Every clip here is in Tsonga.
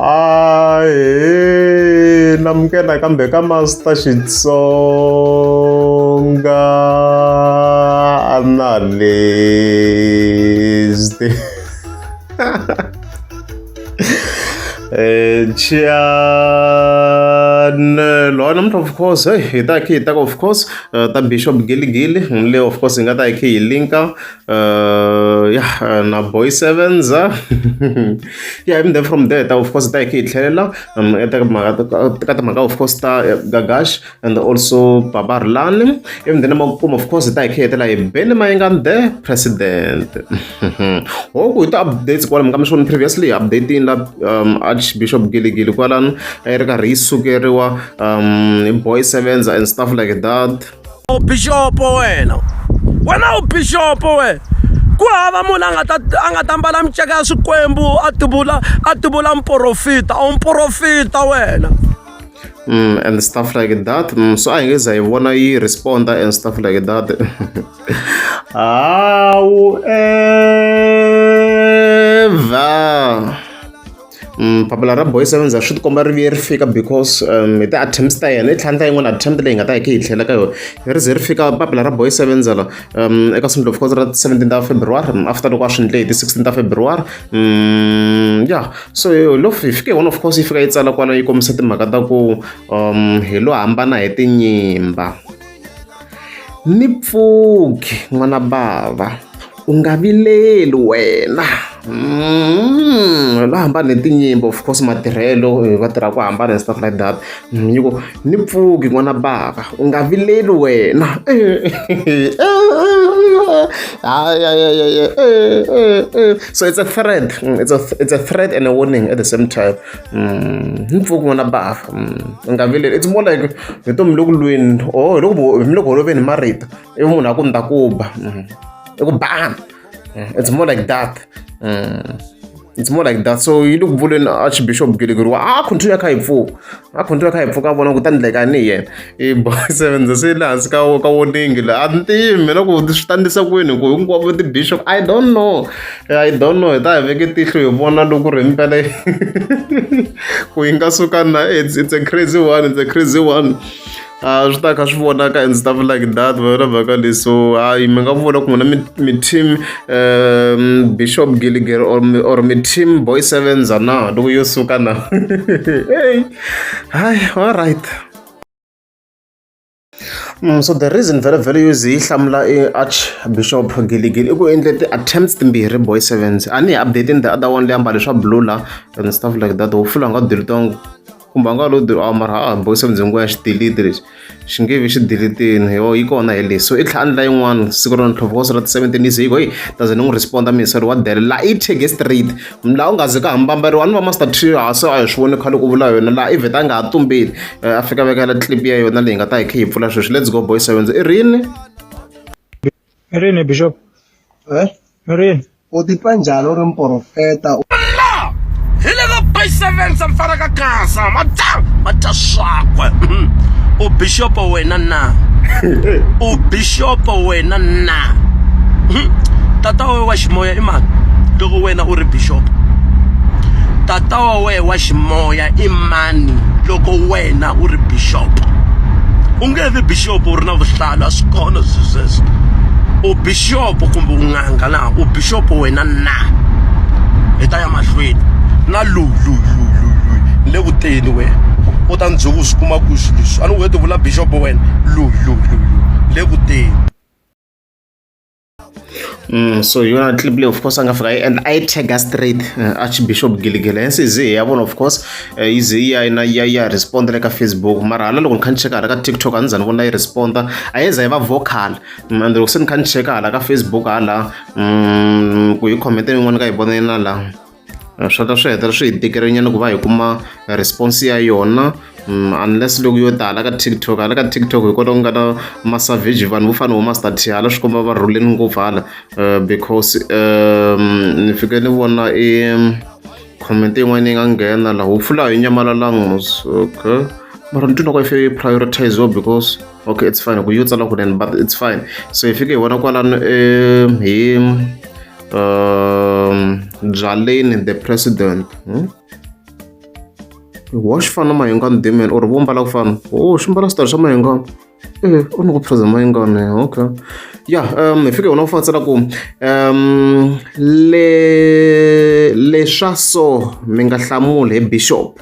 ahe namukela kambe ka master xitsonga analyst eh chianelo ana mntu of course hey hi ta khi hi ta of course eh, ta bishop giligili le of course hi nga ta hi khi hi linka uh ya na boy sevens ya yeah, even then from there ta of course ta hi khe hi tlhelela um eka timhaka ka timhaka of course ta eh, gagash and also babar lani even then makumu of course ta hi khe hetela hi bele mayengani the president hoku hi ta updates kwala mi ka mi swona previously updating la um archbishop giligili kwalani a yi ri karhi yi sukeriwa um boy sevens and stuff like that u bixopo wena wena u bixopo wena ku hava munhu a nga ta a nga ta mbala miceka ya swikwembu a tivula a tivula mporofita a wu mporofita wena Mm, and stuff like that mm, so a hi nge za hi vona yi responda and stuff like that hawu ever papila ra boy seven swi ti komba ri vuye ri fika because hi ti-attempts ta yena i tlhantlha yin'wana attempt leyi nga ta yi khe yi tlhela ka yona ri ze ri fika papila ra boy seven zala eka siku of course ra seventeen ta february after loko a swi ndle hi ti sixteen ta february ya so lo hi fike one of course yi fika yi tsala kwala yi kombisa timhaka ta ku hi lo hambana hi tinyimba Ni pfuki n'wana bava u nga vileli wena hi lo hambana hi tinyimpi of course matirhelo va tirha ku hambana and stuff like that ni ku ni pfuki n'wana bava u nga vileli wena hayi so it's a threat it's a it's a threat and a warning at the same time. Mm, ni pfuki n'wana bafa mm, u nga vileli it's more like vutomi loku lweni or hiloko mi le ku holoveni hi marito ivi munhu a ku ni ta ku ba mm, i ku bana it's more like that it's more like that so yi le ku vuleni archbishop gelegeriwa a continue a kha hi pfuka a continue a kha hi pfuka a vona ku ta ni dlekani hi yena i boy seven se yi le hansi ka ka woningi la a ni tivi mina ku swi tandisa kwini ku hinkwavo ti-bishop i don't know i don't know hi ta hi veke tihlo hi vona loko ri mpela ku yi nga suka na it's, it's a crazy one it's a crazy one a swi ta kha swi vonaka and stuff like that vana vhaka leyi so hayi mi nga vona ku n'wina mi team um bishop gilliger or or mi team boy sevenza na loko yo suka na hey hayi all right so the reason very very use yi hlamula i archbishop giligili i ku endle ti-attempts timbirhi boy sevens a ni hi updating the other one leyi ambale swa blue la and stuff like that wo fula nga diritongo kumbe a nga lo diri a mara a boy sevens hinkwaya xi delete lexi xi nge vi xi delitini yo yi kona hi lexi so i tlhela andla yin'wana siku ra ntlhova ka siku ra ti-seventeen yi ze yi ku heyi doesn't n'wi responda minister wa dele la i tshege straight laha u nga ze ka hambambariwa ni va master trio a se a hi swi voni khale ku vula yona laha i vheta a nga ha tumbeli eh, a fika vekela clip ya yona leyi nga ta hi khe hi pfula sweswi let's go boys sevenz i rini i rini bishop eh? i rini u titwa njhani u ri mporofeta hi le ka boy sevenz a mfana ka gasa mata mata swakwe u bishopo wena na u bishopo wena na tata wa wena wa ximoya i mani loko wena u ri bishop tata wa wena wa ximoya i mani loko wena u ri bishop u nge vi bishop u ri na vuhlalu a swi kona swilo sweswo u bishop kumbe u n'anga na u bishop wena na hi ta ya mahlweni na lululululu ni le kuteni wena u ta ndzuku u swi kuma ku swilo leswi a ni wete vula bishop wena lulululu ni le kuteni so hi yona clip leyi of course a nga fika yi endla a yi tagger straight uh, archbishop giligele hence i ze hi ya vona of course uh, yi ze yi ya na ya ya responda le ka facebook mara hala loko ni kha ni cheka hala ka tiktok a ni za ni vona yi responda a yi za yi va vocal mm, and loko se ni kha ni cheka hala ka facebook hala mm, ku yi comment yin'wana ka yi vona na laha swa ta swi hetelela swi hi tikerinyana ku va hi kuma response ya yona mm, unless loko yo tala ka tiktok hala ka tiktok hi kota ku nga na masavage vanhu vo fana vo master t hala swi komba va rhuleni ngopfu hala eh, because um, ni fike ni vona i comment yin'wana yi nga nghena laha wu pfula hi nyamalalangus okay mara ni twina ku ife yi prioritiziwa because okay it's fine ku yo tsala kunene but it's fine so hi fike hi vona kwalano um hi um, byaleni the president hmm? wa xi fana na mahingani dimen or vo mbala ku fana o xi mbala switori swa mahingani e eh, u ni ku phraza mahingani eh, okay ya um hi fike wona u fatsela ku um le leswa so mi nga hlamuli hi bishop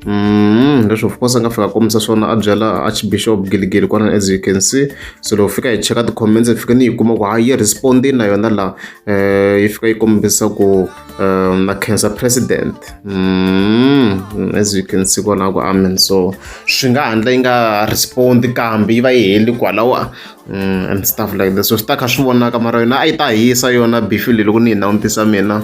Mm, leswi of course a nga fika kombisa swona a byela archbishop giligili kwana as you can see so loko fika hi cheka ti-comments hi fike ni yi kuma ku ha yi respondi na yona laha um yi fika yi kombisa ku um na cancer president mm, as you can see kwalaho ku amen so swi nga handla yi nga respondi kambe yi va yi heli kwalaho mm, and stuff like this so swi ta kha swi vonaka mara yona a yi ta hisa yona bifile loko ni yi nawutisa mina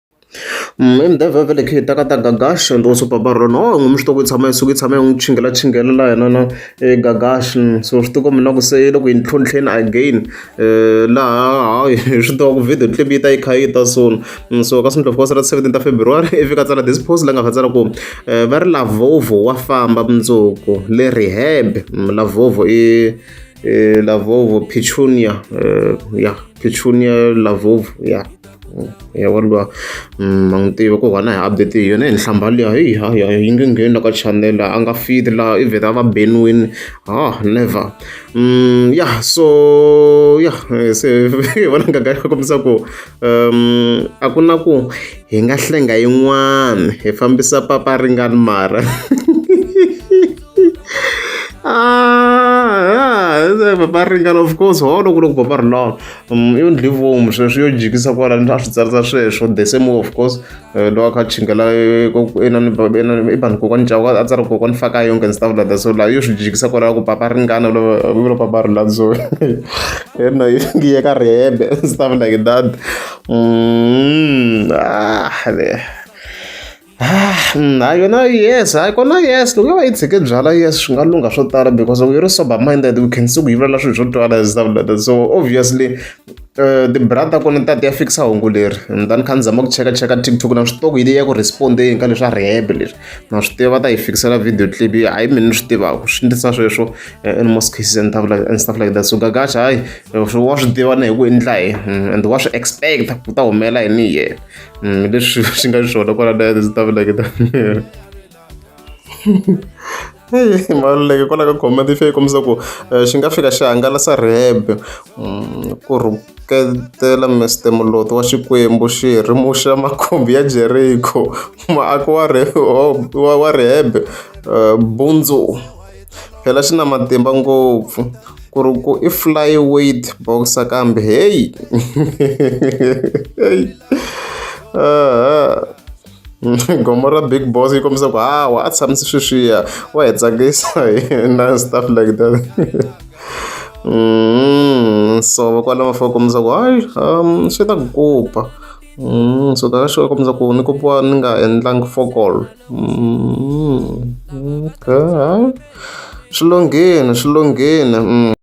Hi mudavhi vhele khe hi ta ka ta Gagash and also Papa Ron oh ngomu swi tiva ku yi tshama yi suka yi tshama yi n'wi chingela chingela la yena na Gagash so swi tiva ku mina ku se le ku yi ntlhontlheni again laha hayi swi tiva ku video clip yi ta yi kha yi ta soon so ka Sundla of course ra seventeen ta February i fika tsala this post la nga kha tsala ku va ri Lavovo wa famba mundzuku le rehab Lavovo i Lavovo Petunia ya Petunia Lavovo ya. ya vanhu va ma n'wi tiva ku vana hi update hi yona hi nhlamba liya heyi ha ya yi nge ngheni la ka channel a nga fiti laha i vheta va beniwini ha never ya so ya se hi vona ngaga ya kombisa ku um a ku na ku hi nga hlenga yin'wana hi fambisa papa ringani mara baba ringana of course wa vona ku loko baba ri lawa um, yo ndli vomu sweswi yo jikisa kwalani a swi tsarisa sweswo the same way of course eh, lowa kha chingela eh, i vanhu kokwani cavo a tsari kokwani faka yonke and stuff like that so laha yo swi jikisa kwalala ku baba ringana vula baba ri laha so yena yi yeka rihembe stuff like that mm, ah, hayi yona yes hayi kona yes loko yo va yi tshike byalwa yes swi nga lungha swo tala because loko yi ri sober minded we can see ku yivulela swilo swo twala and stuff like that so obviously uh, ti-bra ta kona ta ti ya fikisa hungu leri ni ta ni kha ni zama ku cheka cheka tiktok na swi tiva ku yi leyi ya ku respondeni ka leswi a rehebe leswi na swi tiva va ta yi fikisela video clip yi hayi mina ni swi tivaka swi ndlisa sweswo in most cases and stuff like, and stuff like that so gagaxa hayi wa swi tiva na hi ku endla hi and wa swi expect ku ta humelela yini hi yena Mm, leswi swi nga swona kwala na ndzi ta vuleke ta miri maluleke kwala ka comment yi fike kombisa ku eh, xi nga fika xi hangalasa rhebe mm, ku rhuketela mr muloto wa xikwembu xi rimuxa makhumbi ya jeriko muako wa rhebe eh, bundzu phela xi na matimba ngopfu ku ri ku i fly weight boxa kambe heyi heyi gomo ra big boss yi kombisa ku hawa a tshamise sweswiya wa hi tsakisa hina stuff like that mm, so vakwalama fa kombisa ku hayi um swi ta ku kupa mm, so ta ka xi kombisa ku ni kupiwa ni nga endlangi fokolo Mm, okay. Swilongheni, swilongheni. Mm.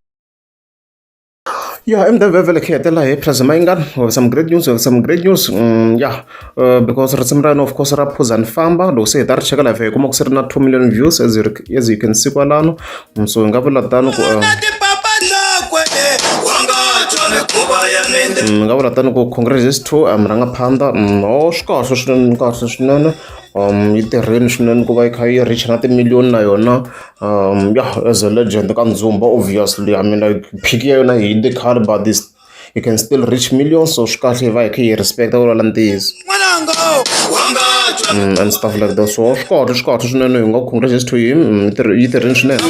Yeah, I'm the Beverly Ketela here, President Maingan. We have some great news, we have some great news. Mm, yeah, uh, because risimu ra yena of course ra phuza ni famba loko se hi ta ri cheka live hi kuma ku se ri na 2 million views as you, as you can see kwalano mm, so hi nga vula tano ku uh, mm, nga vula tano ku congratulations to um, rangaphandha mm, o oh, swi kahle swinene kahle swinene yi tirhile swinene ku va yi kha yi reach na timiliyoni na yona ya as a legend ka Ndzumba obviously I mean like peak ya yona yi hile khale but this yi can still reach millions so swi kahle hi va hi kha hi yi respect-a ku vula ntiyiso and stuff like that so swi kahle swi kahle swinene hi nga congratulations to him yi tirhi- yi tirhile swinene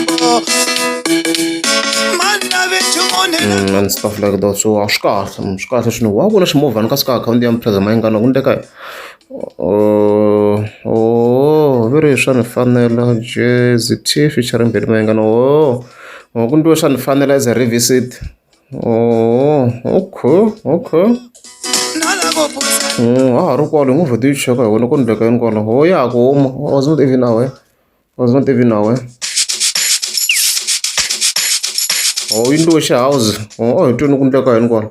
Mm, and stuff like that so a swi kahle mm, swi kahle swinene wa vona ximovhana ka sika akhawunti ya mpheza mayingana ku ndeka Oh, oh, viri swa ni fanela jezi T featuring Benny Mayengani oh, oh ku ntiwe swa ni fanela as a revisit oh okay okay mm, ha ha ri kwalo hi ngo vheta yi cheka hi wena ku ndleka yini kwalo ho oh, ya ku huma oh, was not even aware was not even aware oh yi ntiwe xi house oh hi twini ku ndleka yini kwalo